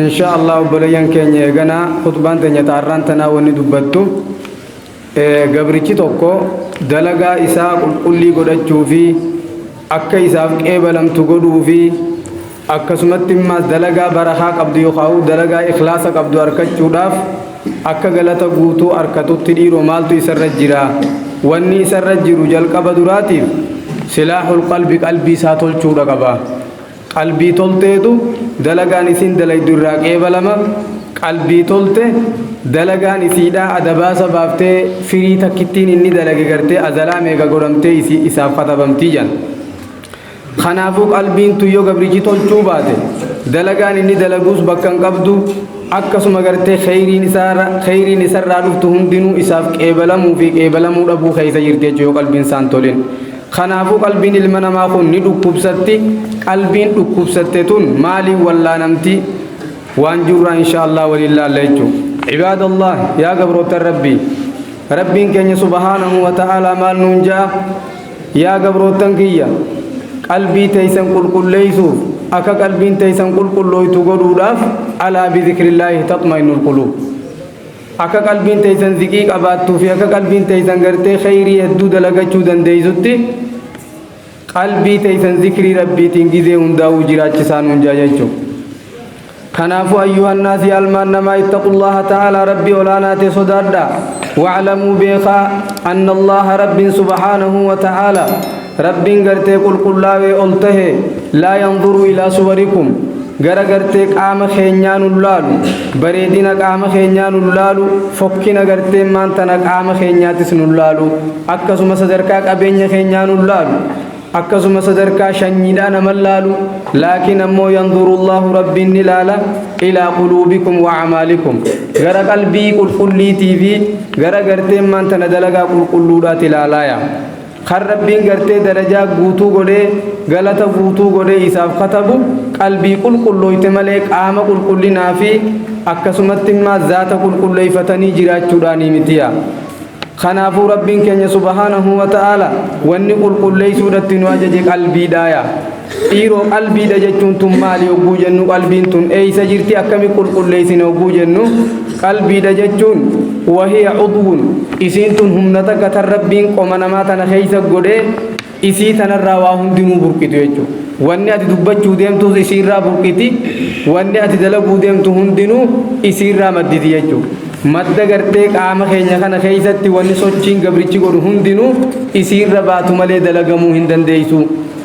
insha allah obboleeyyan keenya eeganaa khutbaan teenya taarraan tanaa wanni dubbattu gabrichi tokko dalagaa isaa qulqullii godhachuu fi akka isaaf qeebalamtu godhuu fi akkasumatti immaas dalagaa barakaa qabdu yookaan dalagaa ikhlaasa qabdu arkachuudhaaf akka galata guutuu arkatutti dhiiroo maaltu isarra jira wanni isarra jiru jalqaba duraatiif silaahul qalbi qalbii isaa tolchuudha qaba. Qalbii tolteetu dalagaan isiin dalaydu irraa qeebalama, qalbii tolte dalagaan isiidhaa ada baasa baaftee firii takkittiin inni dalage gartee azalaa meeqa godhamtee isii isaaf katabamtii jedhan. Kanaafuu qalbiin tun yoo gabrichi tolchuu baate dalagaan inni dalaguus bakka hin qabdu akkasuma gartee kheyriin isaarra kheyriin isarraa dhuftu hundinuu isaaf qeebalamuu fi qeebalamuu dhabuu keessa jirti jechuudha yoo qalbiin isaan tolin. Kanaafuu qalbiin ilma namaa kun ni dhukkubsatti, qalbiin dhukkubsatte tun maaliin wallaanamti? Waan jirurraa inshaa Allaah waliin laalla jechuudha. Cibaada Allaah, yaa gabroottan Rabbii! Rabbiin keenya subhaanahu wa ta'aalaa maal nuun ja'a? Yaa gabroottan kiyya! Qalbii teeysan qulqulleeysuuf, akka qalbiin teeysan qulqullooytu godhuudhaaf, alaa bi zikrillaahi taxma'innul quluub. Akka qalbiin teeysan ziqii qabaattuu fi akka qalbiin teeysan gartee kheyrii hedduu dalagachuu dandeeysutti qalbii teeysan zikrii rabbiitiin gizee hundaa'uu jiraachisaa nuun jaa jechuu kanaafuu ayyuhannaas yaa almaan namaa ittaqullaha ta'aalaa rabbii olaanaa ta'e sodaadhaa wa'lamuu beekaa anna allaha rabbiin subhaanahu wa ta'aalaa Rabbiin gartee qulqullaawee ol tahe laa yanzuru ilaa suwarikum gara gartee qaama keenyaa nun laalu bareedina qaama keenyaa nun laalu fokkina gartee maan tana qaama keenyaatis nun laalu akkasuma sadarkaa qabeenya keenyaa nun laalu akkasuma sadarkaa shanyiidhaa naman laalu laakiin ammoo yanzurullaahu rabbiin ni laala ilaa quluubikum wa amaalikum gara qalbii qulqulliitii fi gara gartee maan tana dalagaa qulqulluudhaati laalaaya Kan Rabbiin gartee darajaa guutuu godhee galata guutuu godhee isaaf katabu qalbii qulqullooyte malee qaama qulqullinaa fi akkasumattimmaa zaata qulqulleeyfatanii jiraachuudhaanii mitiya. Kanaafuu Rabbiin keenya subhaanahu wa ta'aala wanni qulqulleeysuudhatti nu ajaje qalbiidhaaya. Dhiiroo qalbiidha jechuun tun maali hogguu jennu qalbiin tun eeysa jirti akkami qulqulleeysine hogguu jennu qalbiidha jechuun wahiya cudwun isiin tun humna takka tan rabbiin qoma namaa tana keeysa godhee isii tanarraa waa hundinuu burqitu jechuu wanni ati dubbachuu deemtuus isiirraa burqiti wanni ati dalaguu deemtu hundinuu isiirraa madditi jechuu madda gartee qaama keenya kana keeysatti wanni sochiin gabrichi godhu hundinuu isiirra baatu malee dalagamuu hin dandeeysuu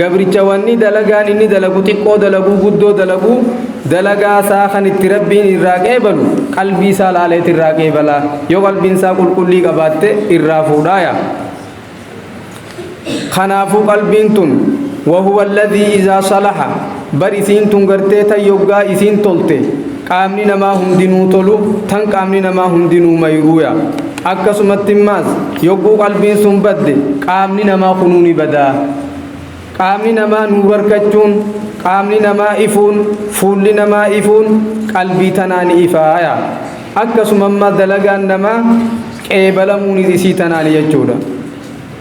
Gabricha wanni dalagaan inni dalagu xiqqoo dalaguu guddoo dalaguu dalagaa isaa kan itti rabbiin irraa qeebalu qalbii isaa laaleet irraa qeebala yoo qalbiin isaa qulqullii qabaatte irraa fuudhaaya kanaafuu qalbiin tun wahuwa alladhii izaa salaha Bar isiin tun gartee tan yoggaa isiin tolte qaamni namaa hundinuu tolu tan qaamni namaa hundinuu mayruuya. Akkasumatti immaas yogguu qalbiin sun badde qaamni namaa kunuu ni bada. Qaamni namaa nuurarkachuun, qaamni namaa ifuun, fuulli namaa ifuun qalbii tanaa ni ifaaya. Akkasuma immaa dalagaan namaa qeebalamuunis isii tanaani jechuudha.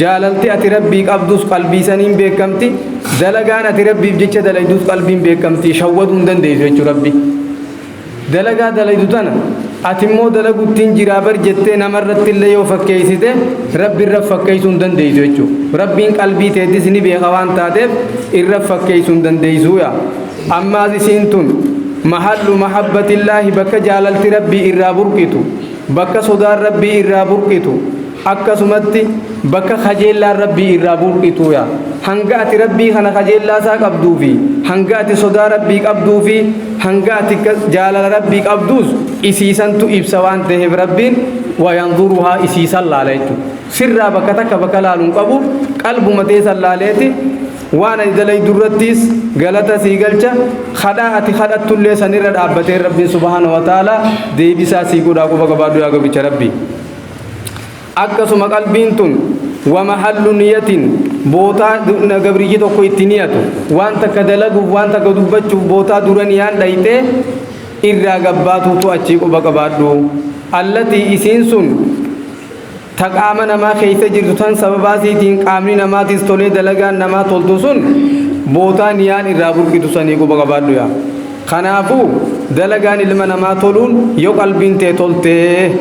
Jaalalti ati Rabbii qabdus qalbii saniin beekkamti, dalagaan ati Rabbiif jecha dalaydus qalbiin beekkamti, shawwaduu hin dandeessu jechuudha Rabbi. Dalagaa dalaydu tana ati immoo dalaguttiin jiraa bar jettee namarratti illee yoo fakkeessite Rabbi irra fakkeessuu hin dandeessu jechuudha. Rabbiin qalbii teetis ni beeka waan taateef irra fakkeessuu hin dandeessu yaa. Ammaas isiin tun mahallu mahabbatillaahi bakka jaalalti Rabbii irraa burqitu, bakka sodaan Rabbii irraa burqitu, akkasumatti bakka kajeellaan rabbii irraa burqituuya hanga ati rabbii kana kajeellaa isaa qabduu fi hanga ati sodaa rabbii qabduu fi hanga ati jaalala rabbii qabduus isiisantu ibsa waan ta'eef rabbiin wayanzuruhaa isiisan laala jechuudha sirraa bakka takka bakka laaluun qabu qalbuma teessan laaleeti waan ani dalaydu irrattiis galata sii galcha kadhaa ati kadhattullee sanirra dhaabbatee rabbiin subhaana wa ta'ala deebisaa sii godhaa quba gabaadhu yaa gabicha rabbii akkasuma qalbiin tun wama hallu niyatin bootaa gabriyyi tokko itti niyatu waan takka dalaguuf waan takka dubbachuuf bootaa dura niyaan dhayxe irraa gabbaatuutu achii quba qabaadhu allatii isiin sun ta qaama namaa keessa jirtu tan sababaa siitiin qaamni namaatis tolee dalagaan namaa toltu sun bootaa niyaan irraa burqitu sanii quba qabaadhu yaa kanaafuu dalagaan ilma namaa toluun yoo qalbiin tee toltee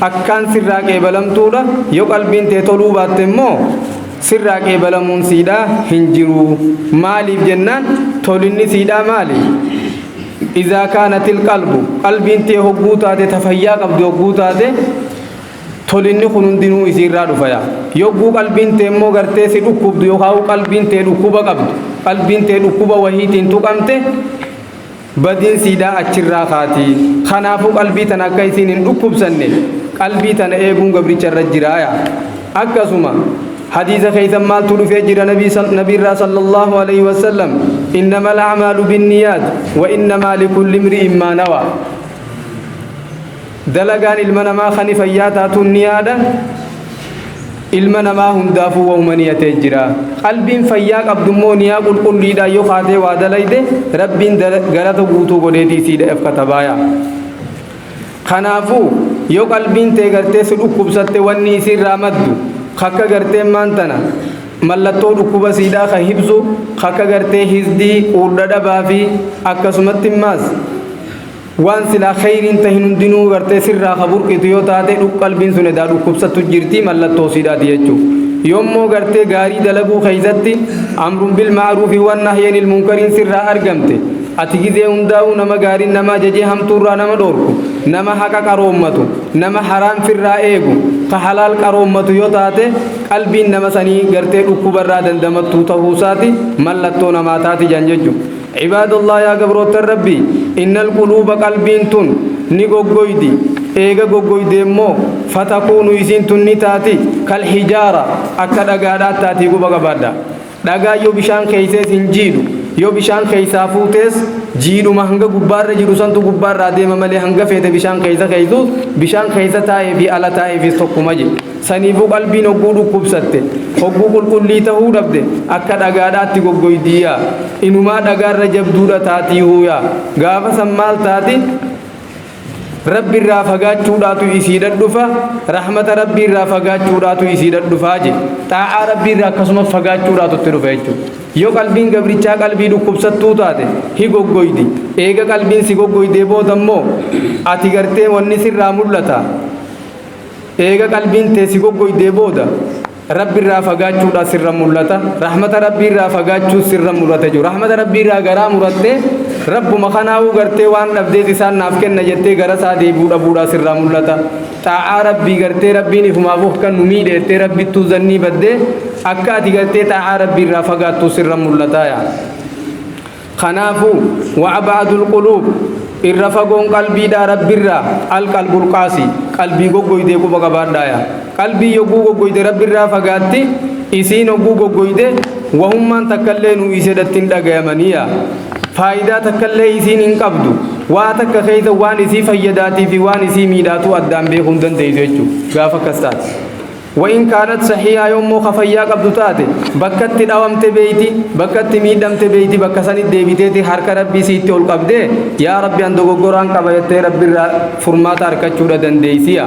akkaan sirraa qeebalamtuudha yoo qalbiin tee toluu baatte immoo sirraa qeebalamuun siidhaa hin jiru maaliif jennaan tolinni siidhaa maali izaa kaanatil qalbu qalbiin tee hogguu taate ta fayyaa qabdu hogguu taate tolinni kun hundinuu isiirraa dhufaya yogguu qalbiin tee immoo gartee si dhukkubdu yookaan qalbiin tee dhukkuba qabdu qalbiin tee dhukkuba wahiitiin tuqamte Badiin siidaa achirraa kaati. Kanaafuu qalbii tana akka isiin hin dhukkubsanne qalbii tana eeguun gabricha irra jiraaya. Akkasuma hadiisa keessan maaltu dhufee jira nabii sal- nabiirraa sallallahu alaihi wasallam innama al'amaalu binniyaat wa innamaa likulli imri'in maa nawaa. Dalagaan ilma namaa kani fayyaa taatuun niyaadha. Ilma namaa hundaafuu wahuma niyatee jira. Qalbiin fayyaa qabdu immoo niyaa qulqulliidhaan yoo kaatee waa dalayde Rabbiin galata guutuu godheetii siidhaaf katabaaya. Kanaafuu yoo qalbiin tee gartee si dhukkubsatte wanni isiirraa maddu kakka gartee maan tana mallattoo dhukkuba siidhaa kan hibsu kakka gartee hisdii quurdha dhabaa fi akkasumatti maas Waan silaa kheyriin tahin hundinuu gartee sirraa ka burqitu yoo taate dhuk qalbiin sun edaa dhukkubsattu jirti mallattoo siidhaati jechuu. Yoommoo gartee gaarii dalaguu keeysatti amrun bil ma'ruufi wan nahyanil munkariin sirraa argamte ati gizee hundaa'uu nama gaariin nama ajajee hamtuurraa nama dhoorku nama haqa qaroommatu nama haraam firraa eegu ka halaal qaroommatu yoo taate qalbiin nama sanii gartee dhukkubarraa dandamattuu tahuusaati mallattoo namaa taati jan jechuu. Cibaadallah yaa gabroottan Rabbii innal quluuba qalbiin tun ni goggoydi eega goggoydee immoo fatakuunu isiin tun ni taati kal hijaara akka dhagaadhaat taati quba qabaadha dhagaan yoo bishaan keeysees hin jiidhu yoo bishaan keeysaa fuutees jiidhuma hanga gubbaarra jiru santu gubbaarraa deema malee hanga feete bishaan keeysa keeysuus bishaan keeysa taa'ee fi ala taa'eefiis tokkuma jedhe Saniifuu qalbiin hogguu dhukkubsatte, hogguu qulqullii tahuu dhabde, akka dhagaadhaatti goggoydiiyaa, inumaa dhagaarra jabduudha taatiihuuyaa, gaafa san maal taati? Rabbirraa fagaachuudhaatu isiidha dhufa, rahmata Rabbiirraa fagaachuudhaatu isiidha dhufa je. Xaa'aa Rabbiirraa akkasuma fagaachuudhaatu itti dhufa jechuudha. Yoo qalbiin gabrichaa qalbii dhukkubsattuu taate, hi goggoydi. Eega qalbiin si goggoydee booda immoo, ati gartee wanni sirraa mul'ata. Eega qalbiin tee si goggoydee booda Rabbi irraa fagaachuudhaa sirra mul'ata. Rahmata Rabbii irraa fagaachuus sirra mul'ata jechuudha. Rahmata Rabbii irraa garaa murattee Rabbuma kanaa'uu gartee waan dhabdees isaan naaf kenna jettee gara isaa deebi'uu dhabuudhaa sirraa mul'ata. Xaa'aa Rabbii gartee Rabbiin ifumaaf of kan nu miidhe jettee Rabbittuu zannii baddee akka ati gartee xaa'aa Rabbii irraa fagaattuu sirra mul'ata yaa. Kanaafu, wa ab'adul quluub, irra fagoon qalbiidhaa Rabbirraa, al qalbul qaasi, qalbii goggoydee quba qabaadhaaya. Qalbiin yogguu goggoyde Rabbirraa fagaatti, isiin hogguu goggoyde wahummaan takkallee nuu iseedhatti hin dhagayamaniya. Faayidaa takkallee isiin hin qabdu. Waa takka keeysa waan isii fayyadaatii fi waan isii miidhaatuu addaan beekuu hin dandeeysu jechu, gaafa akkas taate. Wain kaanat sahiihaa yoo immoo ka fayyaa qabdu taate bakka itti dhawamte beeyti bakka itti miidhamte beeyti bakka sanitti deebiteeti harka rabbii siitti ol qabdee yaa rabbi an dogoggoraan qaba jettee rabbirraa furmaata harkachuudha dandeeysiya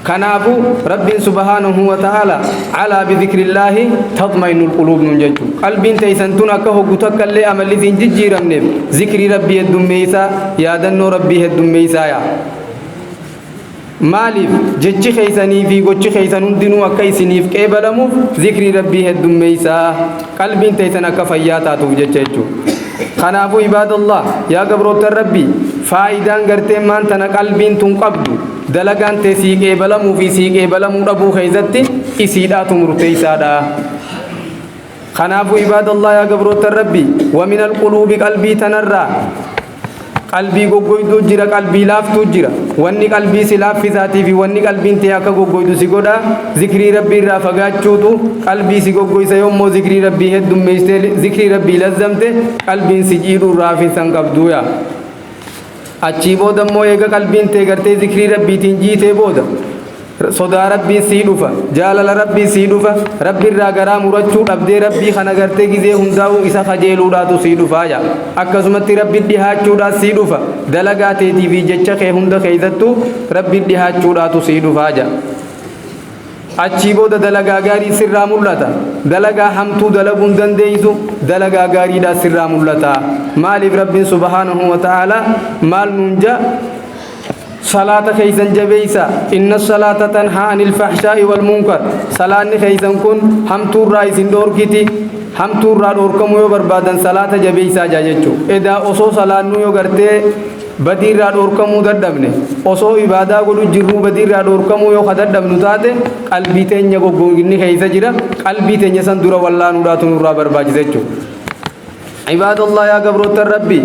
kanaafu rabbiin subhaanahu wa ta'ala alaa bidhikrillaahi tatma'innul quluub nuun jechu qalbiin teeysan tun akka hoggu takka illee amalli siin jijjiiramneef zikrii rabbii heddummeeysaa yaadannoo rabbii heddummeeysaa yaa Maaliif? Jechi keessanii fi gochi keessan hundinuu akka isiniif qeebalamuuf zikrii Rabbii heddummeessaa, qalbiin teessan akka fayyaa taatuuf jecha jechuudha. Kanaafuu ibaadallah, yaa gabroottan Rabbii, faayidaan gartee maan tana qalbiin tun qabdu, dalagaan tee sii qeebalamuu fi sii qeebalamuu dhabuu keessatti isiidhaatu murteessaadha. Kanaafu ibaadallah yaa gabroottan Rabbi wa min alquluubi qalbii tanarraa qalbii goggoyduu jira qalbii laaftuu jira wanni qalbii si laaffisaatii fi wanni qalbiin tee akka goggoydu si godha zikrii rabbii irraa fagaachuutu qalbii si goggoysa yoommoo zikrii rabbii heddummeeysee zikrii rabbii lazzamte qalbiin si jiidhuu irraa hafinsan qabduuya Achii booda immoo eega qalbiin tee gartee zikrii rabbiitiin jiitee booda sodaa rabbii sii dhufa jaalala rabbii sii dhufa rabbi irraa garaa murachuu dhabdee rabbii kana gartee gizee hundaa'uu isa kajeeluudhaatu sii dhufaa yaa akkasumatti rabbi dhihaachuudhaa sii dhufa dalagaa teetii fi jecha kee hunda keessattuu rabbi dhihaachuudhaatu sii dhufaa yaa Achii booda dalagaa gaarii sirraa mul'ata. Dalagaa hamtuu dalaguu hin dandeeysu, dalagaa gaariidhaa sirraa mul'ata. Maaliif Rabbiin subhaanahu wa ta'aalaa maal nuun ja? Salaata keeysan jabeeysa. Inna salaata tanhaa anil fahshaa'i wal munkar. Salaanni keeysan kun hamtuurraa isin dhoorkiti. Hamtuurraa dhoorkamuu yoo barbaadan salaata jabeeysaa jaa jechuu. Edaa osoo salaannuu yoo gartee Badii irraa dhoorkamuu dadhabne. Osoo ibaadaa godhu jirruu badii irraa dhoorkamuu yoo ka dadhabnu taate qalbii teenya goggoginni keessa jira. Qalbii teenya san dura wallaanuudhaatu nurraa barbaachisa jechuudha. Ibaadallah yaa gabroottan Rabbii.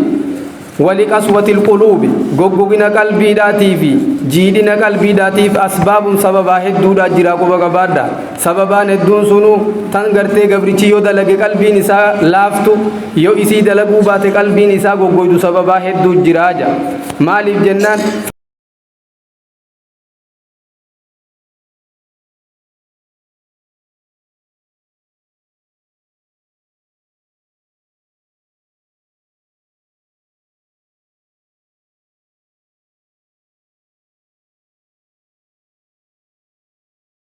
Wali qaswatil quluubi goggogina qalbiidhaatii fi jiidhina qalbiidhaatiif asbaabun sababaa hedduudhaa jira quba qabaadha. Sababaan hedduun sunuu tan gartee gabrichi yoo dalage qalbiin isaa laaftu yoo isii dalaguu baate qalbiin isaa goggoydu sababaa hedduu jiraa ja. Maaliif jennaan.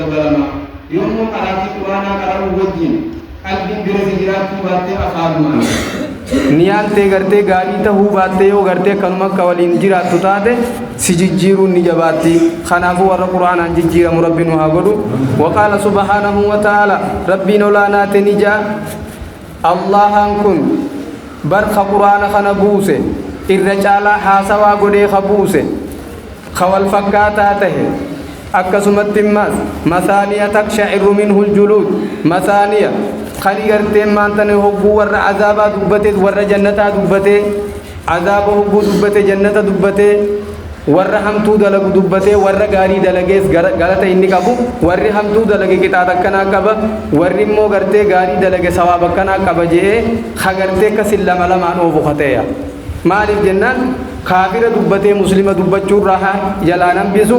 dabalama. Yommuu qaraatii Qur'aanaa qara'uu wajjin qalbiin birasi jiraachuu baattee afaanumaan. Niyaan tee gartee gaarii tahuu baattee yoo gartee kanuma akka waliin jiraattu taate si jijjiiruun ni jabaatti. Kanaafuu warra Qur'aanaan jijjiiramu Rabbi nu haa godhu. Waqaala subhaanahu wa ta'aala Rabbiin olaanaa te ni ja'a. Allaahaan kun bar ka Qur'aana kana buuse irra caalaa haasawaa godhee ka buuse, ka wal fakkaataa tahe, akkasumatti immaas Masaaniya taksha'irru minhul juluud, Masaaniya, kani gartee maantana hogguu warra azaabaa dubbateet warra jannataa dubbatee, Azaaba hogguu dubbate jannata dubbate, warra hamtuu dalagu dubbate, warra gaarii dalagees gara- galata inni qabu, warri hamtuu dalage qixaaxa akkanaa qaba, warri immoo gartee gaarii dalage sawaaba akkanaa qaba je'ee ka gartee akkasin lama lamaan oofu ka ta'e. Maaliif jennaan kaafira dubbatee muslima dubbachuu irraa ha- jalaa hin hambisu,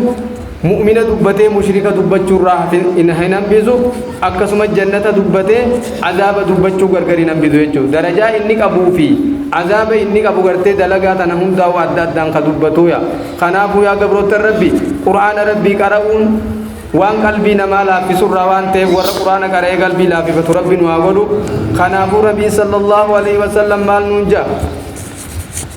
Mu'mina dubbatee mushrika dubbachuu irraa hafin hin hin hambisu akkasumas jannata dubbatee azaaba dubbachuu gargar hin hambisu jechuudha. Darajaa inni qabuu fi azaaba inni qabu gartee dalagaa tana hundaa'uu adda addaan ka dubbatuuya. Kanaafuu yaa gabroottan Rabbi Qur'aana Rabbii qara'uun waan qalbii namaa laaffisu irraa waan ta'eef warra Qur'aana qara'ee qalbii laaffifatu Rabbi nu haa godhu. Kanaafuu Nabiin sallallahu alaihi wasallam maal nuun ja'a?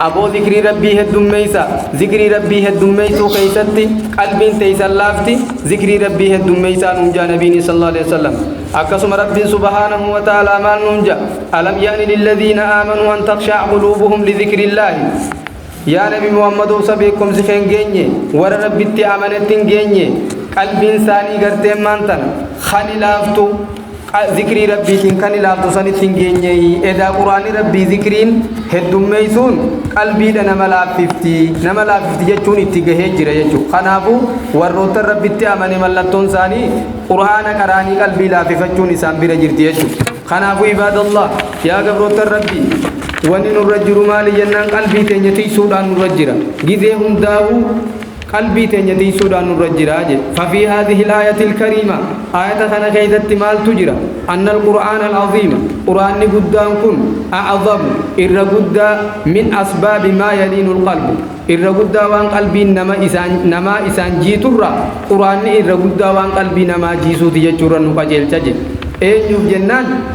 Aboo zikrii rabbii heddummeeysa zikrii rabbii heddummeeysuu keeysatti qalbiin teeysan laafti zikrii rabbii heddummeeysaa nuun jaa nabiin sallallahu alaihi wasallam akkasuma rabbiin subhaanahu wa ta'aalaa maal nuun jaa alam ya'ni lilladhiina aamanuu an takshaa quluubuhum lidhikrillaahi yaa nabi muhammad obsa beekomsi keen geenye warra rabbitti amanetti hin geenye qalbiin saanii garteen maan tana khani laaftu Zikrii Rabbiitiin kan ilaaltu sanitti hin geenyeeyi. Edaa Qur'aanni Rabbii zikriin heddummeessuun qalbiidha nama laaffifti. Nama laaffifti jechuun itti gahee jira jechuudha. Kanaafuu warroottan Rabbitti amane mallattoon isaanii Qur'aana qaraanii qalbii laaffifachuun isaan bira jirti jechuudha. Kanaafuu ibaadallah yaa gabroottan Rabbii wanni nurra jiru maali jennaan qalbii teenya tiksuudhaan nurra jira. Gizee hundaa'uu Qalbii teenya tiysuudhaan nurra jira jedhe. Fafii haadhihil aayatil kariima, aayata kana keessatti maaltu jira? Annal qur'aanal aziima, qur'aanni guddaan kun, a'azamu, irra guddaa, min asbaabi maa yaliinul qalbu, irra guddaa waan qalbiin nama isaan, namaa isaan jiiturraa, qur'aanni irra guddaa waan qalbii namaa jiisuuti jechuurra nu qajeelcha jedhe. Eenyuuf jennaan?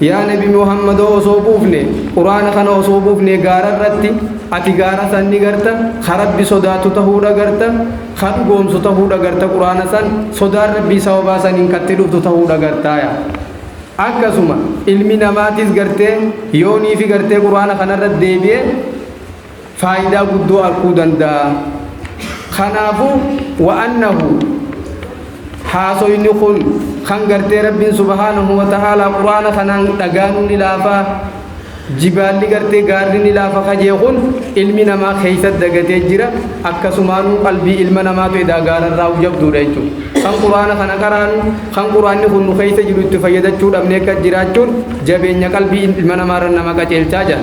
Yaa nabi Muhammadoo osoo buufne, quraana kana osoo buufne gaara irratti, ati gaara san ni garta, ka Rabbi sodaatu tahuu dhagarta, ka dhugoomsu tahuu dhagarta quraana san, sodaan Rabbii sababaa saniin ka itti dhuftu tahuu dhagartaaya. Akkasuma ilmi namaatis gartee yoo niifi gartee quraana kana irratti deebi'e, faayidaa guddoo arkuu danda'a. Kanaafu, wa annahu, haasoyni kun kan gartee Rabbiin subhaanahu wa ta'aalaa Qur'aana kanaan dhagaanuu ni laafa, jibaalli gartee gaarri ni laafa ka jee kun ilmi namaa keessa dagatee jira, akkasumaanuu qalbii ilma namaatu edaa gaararraa'u jabduudha jechuudha. Kan Qur'aana kana qaraanu, kan Qur'aanni kun nu keessa jiru itti fayyadachuu dhabnee akka jiraachuun jabeenya qalbii ilma namaarra nama qaceelchaa jira.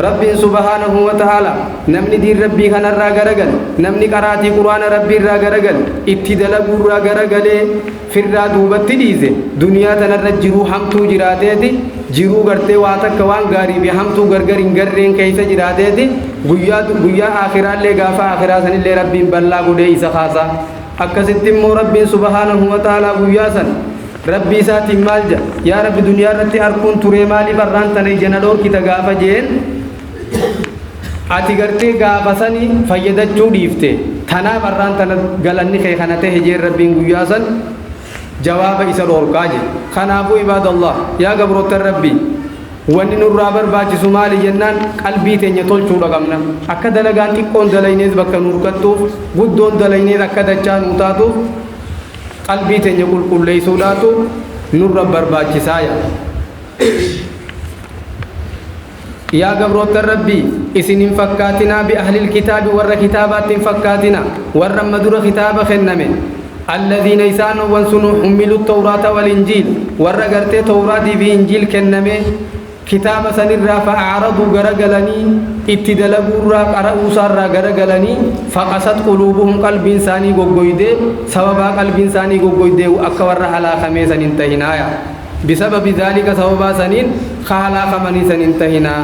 Rabbiin subhaanahu wa ta'aalaa, Namni diin Rabbii kanarraa garagale, namni qaraatii Qur'aana Rabbiirraa garagale, itti dalaguurraa garagalee, firraa duubatti dhiise, duniyaa tanarra jiruu hamtuu jiraateeti, jiruu gartee waa takka waan gaarii fi hamtuu gargar hin garreen keeysa jiraateeti, guyyaa, guyyaa aakhiraallee gaafa aakhiraa sanillee Rabbiin bal'aa godhee isa kaasa. Akkasitti immoo Rabbiin subhaanahu wa ta'aalaa guyyaa san, Rabbii isaatiin maal ja'a? Yaa Rabbi duniyaa irratti arkuun turee maaliif arraan tana ija na dhoorkita gaafa jeen ati gartee gaafa sani fayyadachuu dhiifte tanaaf arraan tana galanni kee kana ta'e jeen Rabbiin guyyaa san jawaaba isa dhoorkaa jee. Kanaafuu ibaadallah yaa gabroottan Rabbii wanni nurraa barbaachisu maali jennaan qalbii teenya tolchuudha qabna. Akka dalagaan xiqqoon dalaynees bakka nu hirkattuuf guddoon dalaynees akka dachaa nuu taatuuf Qalbii teenya qulqulleeysuudhaatu nurra barbaachisaaya. Yaa gabroottan Rabbii! Isin hin fakkaatinaa bi'ahlil kitaabi warra kitaabaatti hin fakkaatina, warra amma dura kitaaba kenname, alladhiina isaanowwan sunu hummilu tawraata wal injiil, warra gartee tawraatii fi injiil kennamee, kitaaba sanirraa fa'araduu garagalanii itti dalaguurraa qara'uusaarraa garagalanii faqasat quluubuhum qalbiin isaanii goggoydee sababaa qalbiin isaanii goggoydeehu akka warra halaakamee san hin tahinaaya bisababi dhaalika sababaa saniin ka halaakamanii san hin tahinaa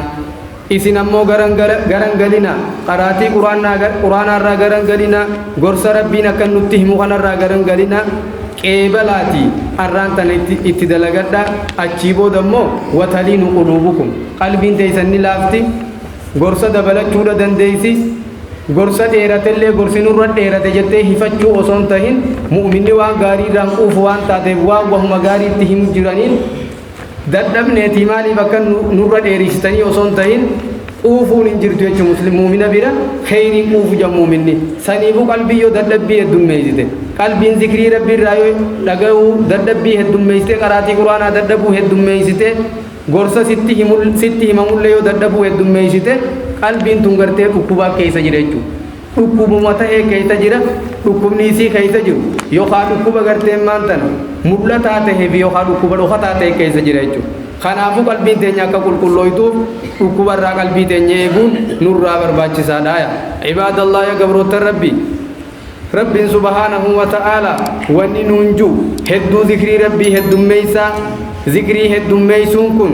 isin ammoo garan garan galinaa qaraatii quraanaa quraanaarraa garan galinaa gorsa rabbiin akkan nutti himu kanarraa garan galinaa qeebalaatii arraan tana itti dalagadhaa achii booda immoo wataliinu quluubukum qalbiin teeysan ni laafti gorsa dabalachuudha dandeeysi gorsa dheeratellee gorsi nurra dheerate jettee hifachuu osoo hin tahin mu'minni waan gaarii irraan quufu waan taateef waan wahuma gaarii itti himu jiraniin dadhabneetii maaliif akka nu- nurra dheeriisitanii osoo hin tahin quufuun hin jirtu jechuun muslim muumina bira kheyrii quufu jedha muuminni saniifuu qalbii yoo dadhabbii heddummeeysite qalbiin zikrii rabbii irraa yoo dhaga'uu dadhabbii heddummeeysite qaraatii quraanaa dadhabuu heddummeeysite gorsa sitti himul- sitti himamullee yoo dadhabuu heddummeeysite qalbiin tun gartee dhukkubaa keeysa jira jechuudha dhukkubuma ta'ee keessa jira dhukkubni isii keessa jiru yookaan dhukkuba garteen maan tana mul'ataa ta'ee fi yookaan dhukkuba dhokataa ta'e keessa jira jechuudha. Kanaafuu qalbiin teenya akka qulqullooytuuf dhukkuba irraa qalbii teenya eeguun nurraa barbaachisaadha. Ibaadallah ya gabroota rabbi. Rabbiin subhaanahu wa ta'aala wanni nuun jiru hedduu zikrii rabbii heddummeessaa zikrii heddummeessuun kun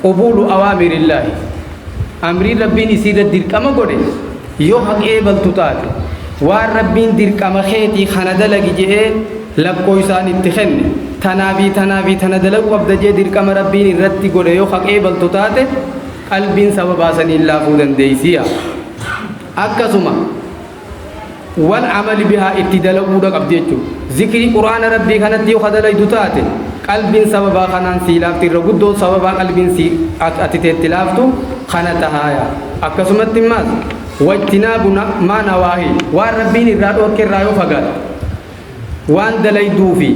Qubuulu awaamirillahi, Amrii Rabbiin isiirra dirqama godhe yoo haqa eegaltu taate, waan Rabbiin dirqama keetii kana dalagi je'ee lakkooysaan itti kenne, tanaa fii tanaa fii tana dalagu qabda je'ee dirqama Rabbiin irratti godhe yoo haqa eegaltu taate, qalbiin sababaa saniin laafuu dandeeysiya. Akkasuma. wal amali bihaa itti dalaguudha qabdi jechuudha. Zikrii Qur'aana Rabbii kanatti yoo ka dalaydu taate qalbiin sababaa kanaan sii laafti irra guddoon sababaa qalbiin sii ati teetti laaftu kana tahaaya. Akkasumatti maas wajtinaabu maa nawaahii waan Rabbiin irraa dhoorke irraa yoo fagaatte Waan dalayduu fi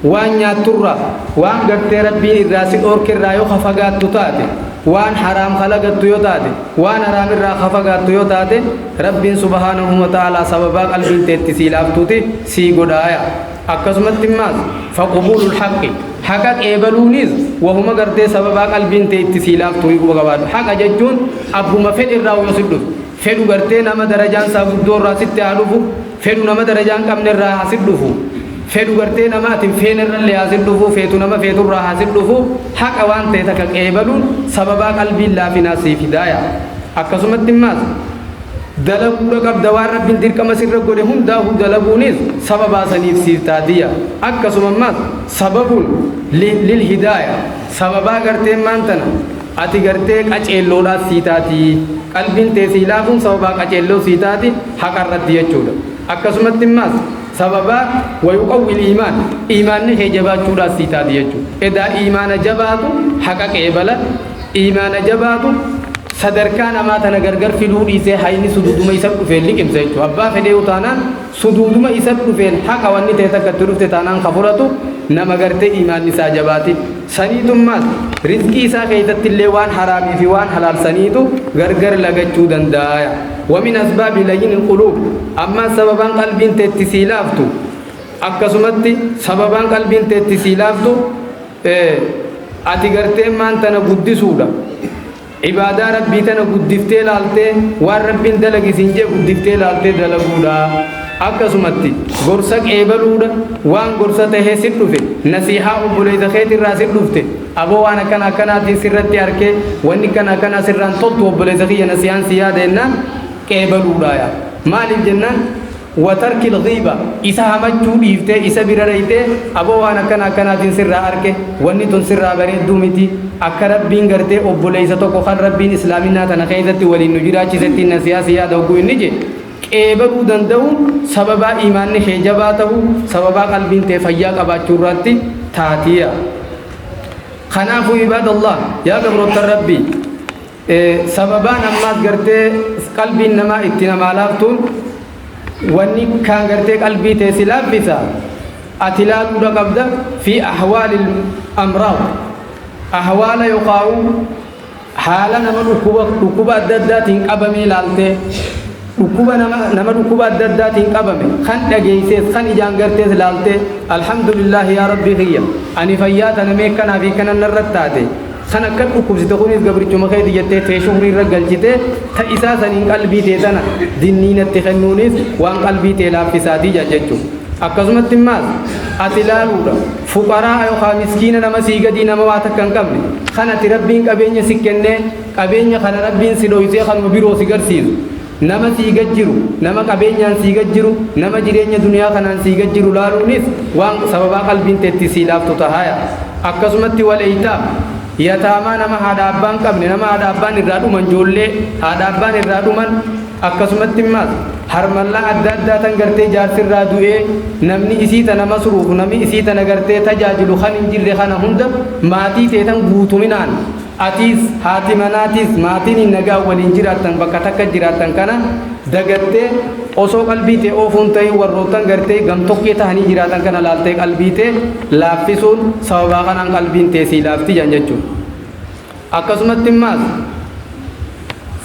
waan nyaattu irraa, waan gartee Rabbiin irraa si dhoorke irraa yoo ka fagaattu taate, waan haraam ka lagattu yoo taate, waan haraam irraa ka fagaattu yoo taate, Rabbiin subhaanahu wa ta'aalaa sababaa qalbiin tee itti sii laaftuti sii godhaaya. Akkasumatti immaas, faqbuulul haqqi, haqa qeebaluuniis wahuma gartee sababaa qalbiin tee itti sii laaftuuyi quba qabaadhu. Haqa jechuun abbuma fedhe irraa yoo sitti dhufe, fedhu gartee nama darajaan isaa guddoo irraa sitti haa dhufu, Fedhu nama darajaa hin qabne irraa haa sit dhufu, fedhu gartee nama ati hin feene irra illee haa sit dhufu, feetu nama feetu irraa haa sit dhufu, haqa waan ta'e takka qeebaluun sababaa qalbiin laafinaa sii fidaaya. Akkasumatti immaas dalaguudha qabda waan Rabbiin dirqama sirra godhe hundaahuu dalaguunis sababaa saniif siif taatiya. Akkasuma immaas sababun lil hidaaya, sababaa gartee maantana, Ati gartee qaceelloodhaas sii taati. Qalbiin tee sii laafuun sababaa qaceelloo sii taati haqa irratti jechuudha. Akkasumatti immaas sababaa wayuqawwil iimaan iimaanni kee jabaachuudhaas sii taati jechuudha. Edaa iimaana jabaatu haqa qeebala, iimaana jabaatu sadarkaa namaa tana gargar fiduu dhiisee hayni sududuma isa dhufeen liqimsa jechuudha. Abbaa fedheeyu taanaan. suduuduma isat dhufeen haqa wanni ta'e takka itti dhufte taanaan ka fudhatu nama gartee iimaanni isaa jabaate saniitummaas rizqii isaa keeysattillee waan haraamii fi waan halaal saniitu gargar lagachuu dandaaya wa min asbaabi layyini alquluub ammaas sababaan qalbiin tee itti sii laaftu akkasumatti sababaan qalbiin tee itti sii laaftu ati gartee maan tana guddisuudha Ibaadaa Rabbii tana guddiftee laaltee waan Rabbiin dalagi siin je'e guddiftee laaltee dalaguudha. Akkasumatti gorsa qeebaluudha, waan gorsa tahee sit dhufe, nasiihaa obboleeysa keetirraa sit dhufte, aboo waan akkana akkanaatiin sirratti arke, wanni akkana akkanaa sirraan toltu obboleeysa kiyya nasiihaan si yaada jennaan qeebaluudhaaya. Maaliif jennaan? Wa tarkil ghiiba, isa hamachuu dhiiftee isa bira dhayxee aboo waan akkana akkanaatiin sirraa arke, wanni tun sirraa bareedduu miti, akka Rabbiin gartee obboleeysa tokko khan Rabbiin islaaminaa tana kheeysatti waliin nu jiraachisettiin nasihaa si yaada hogguu inni jee, qeebaluu dandawuun sababaa iimaanni khee jabaa tahuu, sababaa qalbiin tee fayyaa qabaachuurraatti taatiya. Khanaafu ibaadallah, yaa gabroottan Rabbii! Sababaan ammaas gartee qalbiin namaa itti namaa laaftuun wanni kaan gartee qalbii tee si laaffisa ati laaluudha qabda fi ahwaalil amraad ahwaala yokaa'uu haala nama dhukkuba dhukkuba adda addaatiin qabamee laaltee Dhukkuba nama nama dhukkuba adda addaatiin qabame kan dhageessees kan ijaan gartees laaltee alhamdulillaahi yaa rabbii kiyya ani fayyaa tana mee kanaa fi kanan narratti taate kan akkan dhukkubsite kunis gabrichuma keeti jettee tee shukrii irra galchitee ta isaa saniin qalbii tee tana dinnii natti kennuunis waan qalbii tee laaffisaati jaan jechu akkasumatti immaas ati laaluudha fuqaraa yookaa miskiina nama sii gadii nama waa takka hin qabne kan ati rabbiin qabeenya si kennee Qabeenya kana Rabbiin si dhooysee kanuma biroo si garsiisu, nama sii gad jiru, nama qabeenyaan sii gad jiru, nama jireenya duniyaa kanaan sii gad jiru laaluunis waan sababaa qalbiin tee ittiin sii laaftu tahaaya. Akkasumatti wal-eytaam, yataamaa nama haadha abbaa hin qabne, nama haadha abbaan irraa dhuman, joollee haadha abbaan irraa dhuman, akkasumatti immaas harmallaa adda addaa tan gartee jaarsi irraa du'ee namni isii tana masruufu, nami isii tana gartee tajaajilu kan hin jirre kana hunda maatii tee tan guutuminaan, Atiis, haati manaatiis, maatiin nagaan waliin jiraattan bakka takka jiraattan kana dagattee osoo qalbii tee oofuu hin tahin warroottan gartee gamtokkee tahanii jiraatan kana laaltee qalbii tee laaffisuun sababaa kanaan qalbiin tee sii laafti jedhan jechuudha. Akkasumatti immaas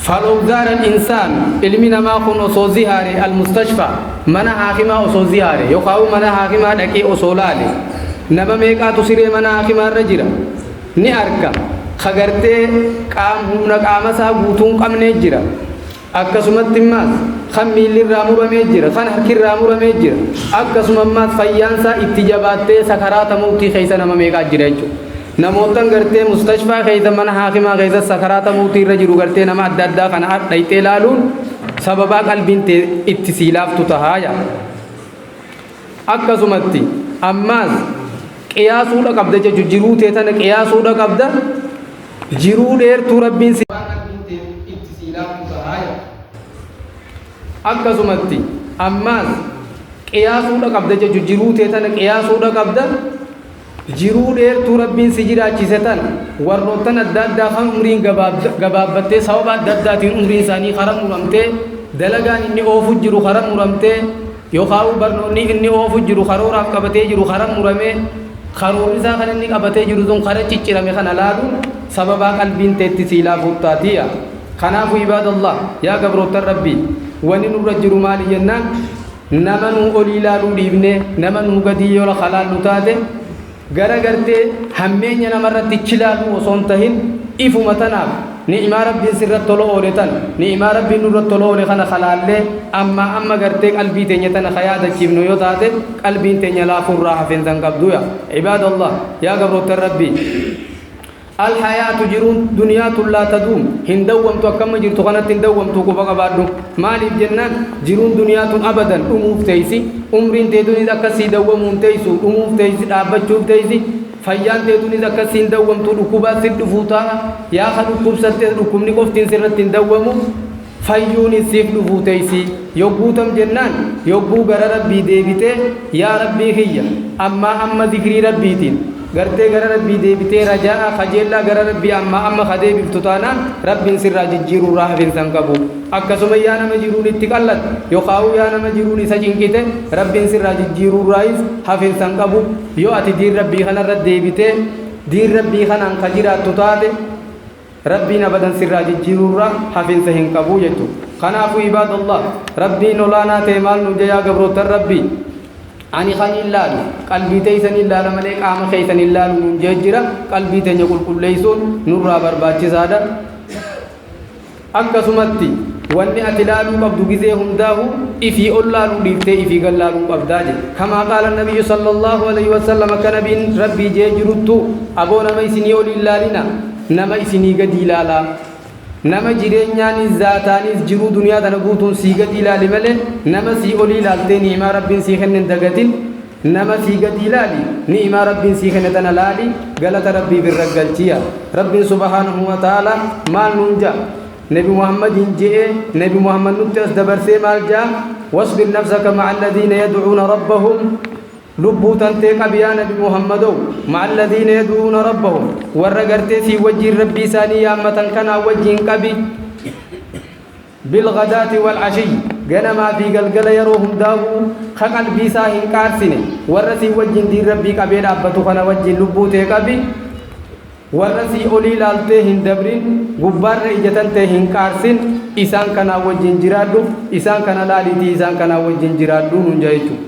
Falow zaara al-insaan ilmi namaa kun osoo zihaare al-mustashfa mana haakimaa osoo zihaare yookaan mana haakimaa dhaqee osoo laale nama meeqaatu siree mana haakimaa irra jira? ni arga. Ka gartee qaam humna qaama isaa guutuu hin qabnee jira. Akkasumatti immaas kan miilli irraa muramee jira, kan harki irraa muramee jira. Akkasuma immaas fayyaan isaa itti jabaattee sakaraata mawtii keessa nama meeqaa jira jechuudha. Namoottan gartee mustashfaa keessa mana haakimaa keessa sakaraata mawtii irra jiru gartee nama adda addaa kana ar- dhayxee ilaaluun sababaa qalbiin tee itti sii laaftu tahaa yaa. akkasumatti ammaas qiyaasuudha qabda jechu jiruu tee tana qiyaasuudha qabda jiruu dheertuu rabbiin si akkasumatti ammaas qiyaasuudha qabda jechu jiruu tee tana qiyaasuudha qabda Jiruu dheertuu Rabbiin si jiraachise tana warroottan adda addaa kan umriin gabaabbattee sababa adda addaatiin umriin isaanii karaa muramtee, dalagaan inni oofu jiru karaa muramtee, yookaawuu barnoonni inni oofu jiru karooraaf qabatee jiru karaa muramee, karoorri isaa kan inni qabatee jiru sun karaa ciccirame kana laaluun sababaa qalbiin teetti sii laafuuf taatiya. Kanaafu ibaadallah, yaa gabroottan Rabbii, wani nurra jiru maali jennaan? Nama nuu olii ilaaluu dhiifnee nama nuu gadii yoo ka laallu taate gara gartee hammeenya nama irratti chilaaluu osoo hin tahin ifuma tanaaf ni'imaa Rabbiin sirratti tola oole tana ni'imaa Rabbiin nurratti tola oole kana ka laallee ammaa amma gartee qalbii teenya tana ka yaadachiifnu yoo taate qalbiin teenya laafuu irraa hafeensa hin qabdu yaa ibaadallah yaa gabroottan Rabbii Al hayaatu jiruun duniyaa tun laa taduum hin dawwamtu akka amma jirtu kanatti hin dawwamtu quba qabaadhu maaliif jennaan jiruun duniyaa tun abadan dhumuuf teeysi umriin tee tuniis akkas sii dawwamuu hin teeysu dhumuuf teeysi dhaabbachuuf teeysi fayyaan tee tuniis akkas sii hin dawwamtu dhukkubaas sitti dhufuu taa'a yaa ka dhukkubsattes dhukkubni qoftiin sirratti hin dawwamu fayyuunis siif dhufuu teeysii yogguu tam jennaan yogguu gara rabbii deebitee yaa rabbii kiyya ammaa amma zikrii rabbiitiin gartee gara rabbii deebitee rajaa'a kajeellaa gara rabbii ammaa amma ka deebiftu taanaan rabbiin sirraa jijjiiruurraa hafinsa hin qabu akkasuma yaa nama jiruun itti qallatte yokhaa'uu yaa nama jiruun isa cinqite rabbiin sirraa jijjiiruurraayis hafinsa hin qabu yoo ati diin rabbii kanarra deebitee diin rabbii kanaan ka jiraattu taate Rabbiin abadan sirraa jijjiiruurra hafinsa hin qabu jechuudha. Kanaafu ibaadallah Rabbiin olaanaa ta'e maal nuun jayaa gabroottan Rabbii? Ani kaniin laalu qalbii teeysaniin laala malee qaama keeysan hin laalu nuun jee jira. Qalbii teenya qulqulleeysuun nurraa barbaachisaadha. Akkasumatti wanni ati laaluu qabdu gizee hundaahu ifii ol laaluu dhiiftee ifii gad laaluu qabdaa jedhe. Kamaa qaala nabiyyu sallallahu alayhi wa sallam akka nabiin Rabbii jee jiruttu aboo nama isinii ol hin laalina. nama isinii gadii laalaa nama jireenyaaniis zaataaniis jiruu duniyaa tana guutuun sii gadii laali male nama sii olii laaltee ni'imaa rabbiin sii kenne hin dagatin nama sii gadii laali ni'imaa rabbiin sii kenne tana laali galata rabbiif irra galchiya rabbiin subhaanahu wa ta'aala maal nuun ja'a nabi muhammadiin je'ee nabi muhammad nutti as dabarsee maal ja'a wasbir nafsaka ma'a alladhiina yad'uuna rabbahum Lubbuu tantee qabi yaa nabi Muhammadow, ma'a alladhiina yad'uuna rabbahum, warra gartee sii wajjiin Rabbii isaanii yaammatan kanaa wajjiin qabi, bilghadaati wal ashiyyi, ganamaa fi galgala yaroo hundaahuu, ka qalbii isaa hin qaarsine, warra sii wajjiin diin Rabbii qabee dhaabbatu kana wajjiin lubbuu tee qabi, warra sii olii laaltee hin dabrin, gubbaarra ija tantee hin qaarsin, isaan kanaa wajjiin jiraadhu, isaan kana laaliitii isaan kanaa wajjiin jiraadhu nuun ja'a jechuudha.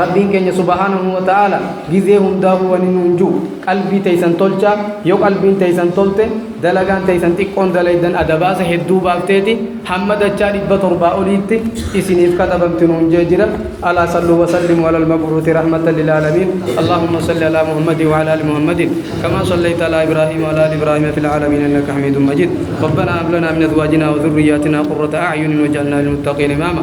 Rabbiin keenya subhaanahu wa ta'aala gizee hundaahuu wani nuun ju'u qalbii teysan tolchaa yo qalbiin teysan tolte dalagaan teysan xiqqoon dalaydan adabaasa hedduu baafteeti hamma dachaa dhibba torbaa oliitti isiniif katabamti nuun je'e jira alaa salluu wa sallimuu alal mab'uuthi rahmatan lil aalamiin Allaahumma salli alaa Muhammadin wa alaa ali Muhammadin kamaa sallayta alaa Ibraahiim wa alaa ali Ibraahiim fil aalamiin innaka hamiidun majiid Rabbanaa hab lanaa min azwaajinaa wa dhurriyyaatinaa qurrata a'yunin waj'alnaa lil muttaqiina imaama